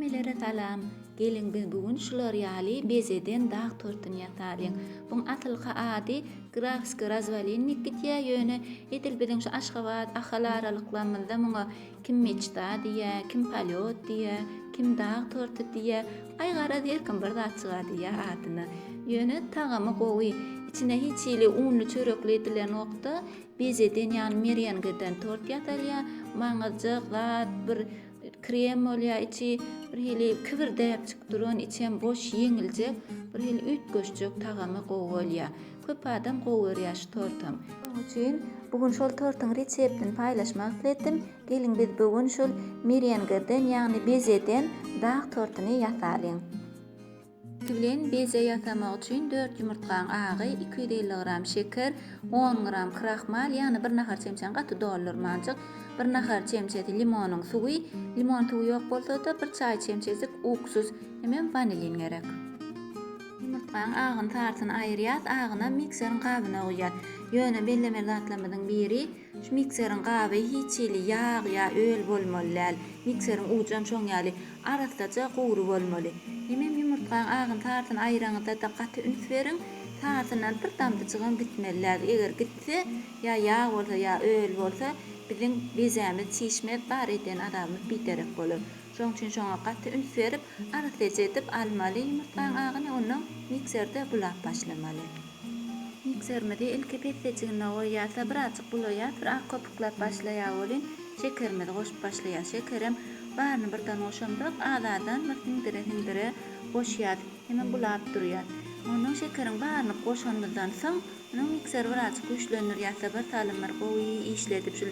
Hemmelere salam. Geliň biz bu gün şular ýaly bezeden dag tortuny ýasalyň. Buň asylky ady Grafskiý razwalinnik gitýä ýöne edil biziň şu Aşgabat, Ahal aralyklarymyzda muňa kim meçda diýýä, kim polýot diýýä, kim dag torty diýýä, aý garaz her kim bir zat çyga diýýä adyna. Ýöne tagamy gowy. Içine hiç hili unly çörekli edilenokda, Bezeden ýagny merengeden tort ýasalýar. Maňyzjak zat bir krem bolýar içi bir hili kibirdäpjik duran içem boş ýeňiljek bir hili üýtgeşjek tagamy gowy bolýar. Köp adam gowy görýär şu tortam. Şonuň üçin bu gün şol tortuň reseptini paýlaşmak isletdim. Geliň biz bu gün şol merengeden ýagny bezeden dag tortuny ýasalyň. Bilen beje ýasamak üçin dört ýumurtgaň agy, iki ýüz elli gram şeker, on gram krahmal, ýagny bir nahar çemçäni gaty doldurmanjyk, bir nahar çemçesi limonyň suwy, limon suwy ýok bolsa-da, bir çaý çemçejik uksuz hemem wanilin gerek. Ýumurtgaň agyny sarysyny aýyrýas, agyny mikseriň gabyna guýýas. Ýöne bellemeli zatlarymyzyň biri, Şu mikseriň gaby hiç hili ýag ýa öl bolmaly däl. Mikseriň ujam şoň ýaly, arassaja gury bolmaly. Hemem ýumurtgaň agyny-tarsyny aýraňyzda-da gaty üns beriň. Tarsyndan bir damjajygam gitmeli däl. Eger gitse, ýa ýag bolsa, ýa öl bolsa, biziň bezämiz çişmez, bar edýän azabymyz biderek bolar. Şoň üçin şoňa gaty üns berip, arassaja edip almaly ýumurtgaň agyny ondan mikserde bulap başlamaly. Mikserimizi ilki pessejigine goýýarsa birazjyk bulaýar bir ak köpüklap başlaýar welin şekerimizi goşup başlaýar şekerem baryny birden goşamzok azazan bir siňdire siňdire goşýar hemem bulap durýar ondan şekeriň baryny goşanymyzdan soň onuň mikseri birazjyk güýçlendirýärse bir salym bir gowy işledip şul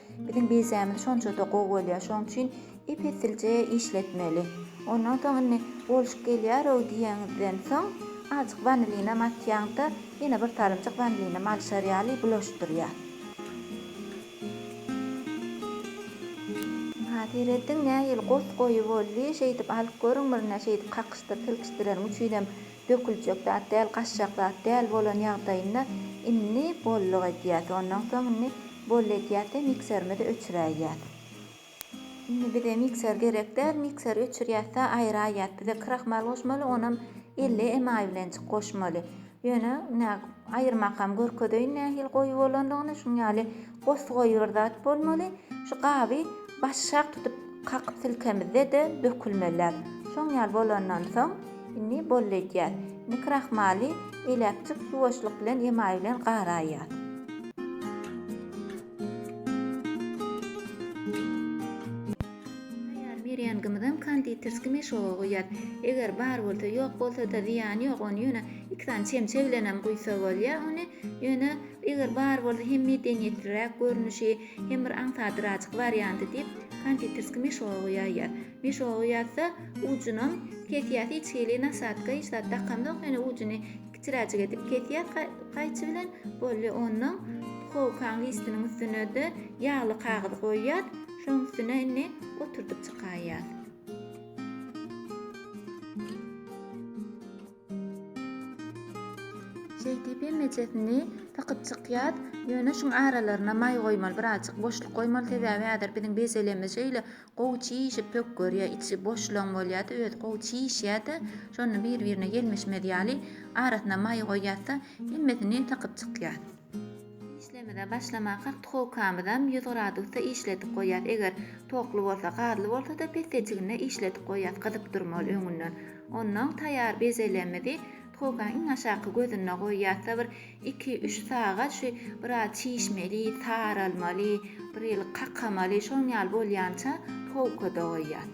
Biziň bizämiz şonça-da gowy bolýar, şonuň üçin ep-esilje işletmeli. Ondan soň indi bolşup gelýär-ow diýeniňizden soň, azajyk wanilinam atýaň-da, ýene bir salymjyk wanilinam alyşar ýaly bulaşdyrýar. Ynha, serediň, nähili gos goýy boldy. Şeýdip alyp görüň, birine şeýdip kakyşdyr, silkişdireniň üçinem döküljek zat däl, gaçjak zat däl bolan ýagdaýynda indi bolluk edýäs. Ondan soň indi boll edýäs-de mikserimizi öçüräýýäs. Indi bize mikser gerek däl, mikseri öçürýäs-de aýyraýýas. Bize krahmal goşmaly, onam elli emaý bilenjik goşmaly. Ýöne ine aýyrmakam görkezeýin nähili goýy bolandygyny, şuň ýaly Bos goýy bir zat bolmaly. Şu gaby başak tutup kakyp silkemizde-de dökülmeliär. Şoň ýaly bolandan soň indi boldy edýär. Indi krahmaly eläkjik ýuwaşlyk bilen emaý bilen garaýýar. Taýýar merengimizem konditerskiý meşoga guýýar. Eger bar bolsa, ýok bolsa-da zyýany ýok, ony ýöne iki sany çemçe bilenem guýsa bolýar. Ony Ýöne eger bar bolsa hem medeniýetliräk görnüşi, hem bir aňsadyrajyk warianty diýip, konditerski meşogu ýaýýar. Meşogu ýazsa, ujunam kesýär, hiç hili nasadka, hiç zat dakamzok, ýöne ujuny kiçiräjik edip kesýär gaýçy bilen, bolýa. Onnoň puhowkaň listiniň üstüne-de ýagly kagyz goýýar, şoň üstüne indi oturdyp çykaýýar. Şeýdip hemmejesini sykyp çykýas. Ýöne şuň aralaryna maý goýmaly, birazjyk boşluk goýmaly. Sebäbi häzir biziň bezelemiz şeýle gowy çişip pök görýär. Içi boşlugyň bolýar-da, özi gowy çişýär-de, şonda bir-birine gelmişmez ýaly arasyna maý goýýas-da, hemmesini sykyp çykýas. Işlemize başlamakak duhowkamyzam ýüz gradusda işledip goýýas eger tokly bolsa gazly bolsada pesdeçiginde işledip goýýas gyzyp durmaly öňünden onnoň taýar bezelemizi duhowkaň iň aşaky gözünde goýýasda bir iki üç sagat şu biraz çişmeli saralmaly bir ýyl kakamaly şoň ýaly bolýança duhowkada goýýas.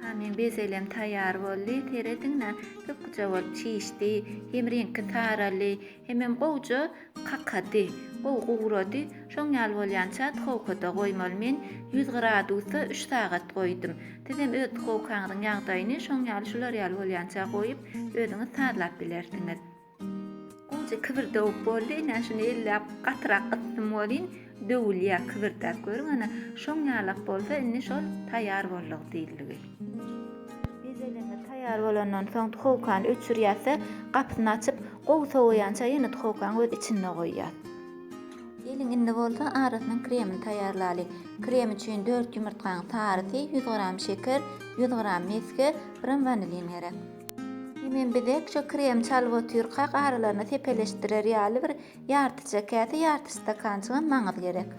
Hany bezelem taýýar boldy. Serediň-le, köpküje bolup çişdi. Hem reňki saraldy, hemem gowja kakady. Gowy gugrady. Şoň ýaly bolýança duhowkada goýmaly. Men ýüz gradusda üç sagat goýdum. Sizem öz duhowkaňyzyň ýagdaýyny şoň ýaly şular ýaly bolýança goýup, özüňiz sazlap bilersiňiz. Goja kibir döwüp boldy, ine, şuny elläp gatyrak ysdym welin, döwülýär kibirdäp görüň, ana, şoň ýalak bolsa, indi şol taýýar boldug diýildigi. Bezeleme taýýar bolandan soň duhowkany öçürýäs-de, gapysyny açyp, gowy sowaýança ýene duhowkanyň öz içinde goýýas. Geliň, indi bolsa arasynyň kremini taýýarlaly. Krem üçin dört ýumurtgaň sarysy, ýüz gram şeker, ýüz gram mesge, biram wanilin gerek. Emin bizek şo kremi çalyp otyrkak aralaryna sepeleşdirer ýaly bir ýartyja käse, ýarty stakançygam maňyz gerek.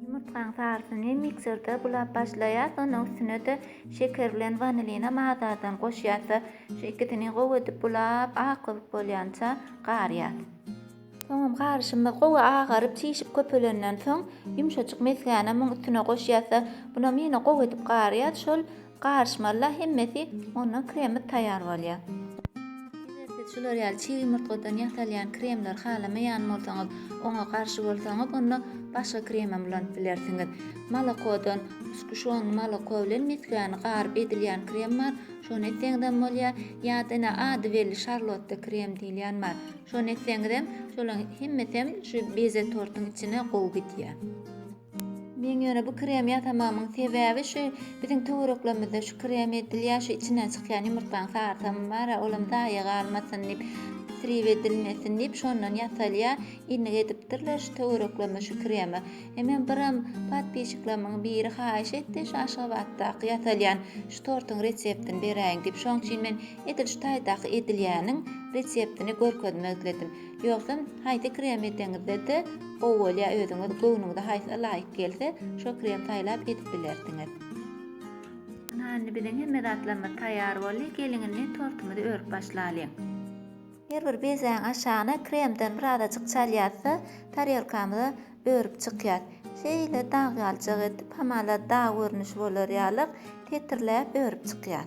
Ýumurtgaň sarysyny mikserde bulap başlaýas, onuň üstüne-de şeker bilen wanilinam az-azdan goşýas we şu ikisini gowy edip bulap, ak köpük bolýança garýas. Soňam garyşymyz gowy agaryp, çişip köpelenden soň, ýumşajyk mesgäni muň üstüne goşýas we bunam ýene gowy edip garýas, şol Garyşmaly-la hemmesi, ondan kremi taýýar bolýar. Eger siz şular ýaly çig ýumurtgadan ýasalýan kremleri halamaýan bolsaňyz, oňa garşy bolsaňyz, onda başga kremem ulanyp bilersiňiz. Molokodan, sguşon moloko bilen mesgäni garyp edilýän krem bar, şony etseňizem bolýar, ýa-da ine ady belli şarlotta krem diýilýän bar. Şony etseňizem, şolaryň hemmesem şu beze tortuň içine gowy gidýär. Men ýöne bu kremi ýasamagymyň sebäbi şu biziň töwereklerimizde şu kremi edilýär şu içinden çykýan ýumurtgaň sarsamy bara olam zaýa galmasyn diýip isrip edilmesin diýip şondan ýasalýar innik edipdirler şu töwereklerime şu kremi e men biram podpişiklerimiň biri haýyş etdi şu aşgabatdaky ýasalýan şu tortuň reseptini beräýiň diýip şoň üçin men edil şu taýdaky edilýäniň reseptini görkezmek isledim. Ýogsam haýsy krem edeňizde-de gowy bolýar özüňiz göwnüňize haýsy laýyk gelse şo krem saýlap edip bilersiňiz. Ana indi biziň hemme zatlarymyz taýýar boldy geliň indi tortumyzy örüp başlalyň. Her bir bezäň aşagyna kremden birazajyk çalýas-da tarelkamyza örüp çykýas. Şeýle dag galjak edip hamala dag görnüşi bolar ýalyk setirläp örüp çykýas.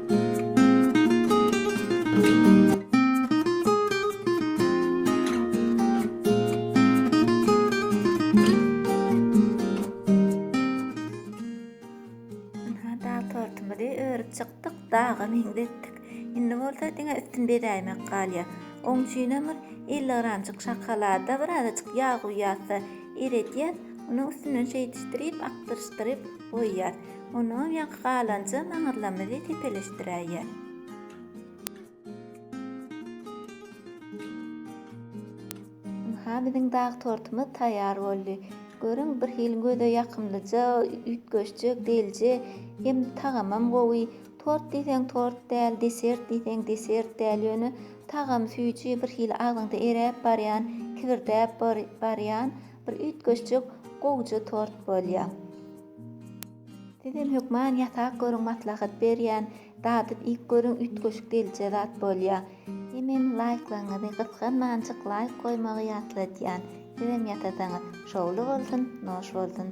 daga meňzetdik. Indi bolsa diňe üstüni bezäýmek galýar. Oň üçin hem bir 50 gramjyk şokolada birazajyk ýag guýýarsa eredýär. Onuň üstünden şeýdişdirip, akdyryşdyryp goýýar. Onuň ýaňky galanjy maňyrlarymyzy tepeleşdiräýýär. Ynha, biziň dag tortumyz taýýar boldy. Görüň, birhili göze ýakymlyja, üýtgeşje, delje hem tagamam gowy. Tort diýseň tort däl, desert diýseň desert däl, ýöne tagamy süýji, birhili agzyňda eräp barýan, kibirdäp barýan Bir üýtgeşjik gowja tort bolýa. Sizem hökman ýasap görüň maslahat berýän dadyp iýip görüň üýtgeşik gelje zat bolýa. Hemem laýklaryňyzy gysganmanjyk laýk goýmagy ýatladýan sizem ýasasaňyz şowly bolsun noş bolsun.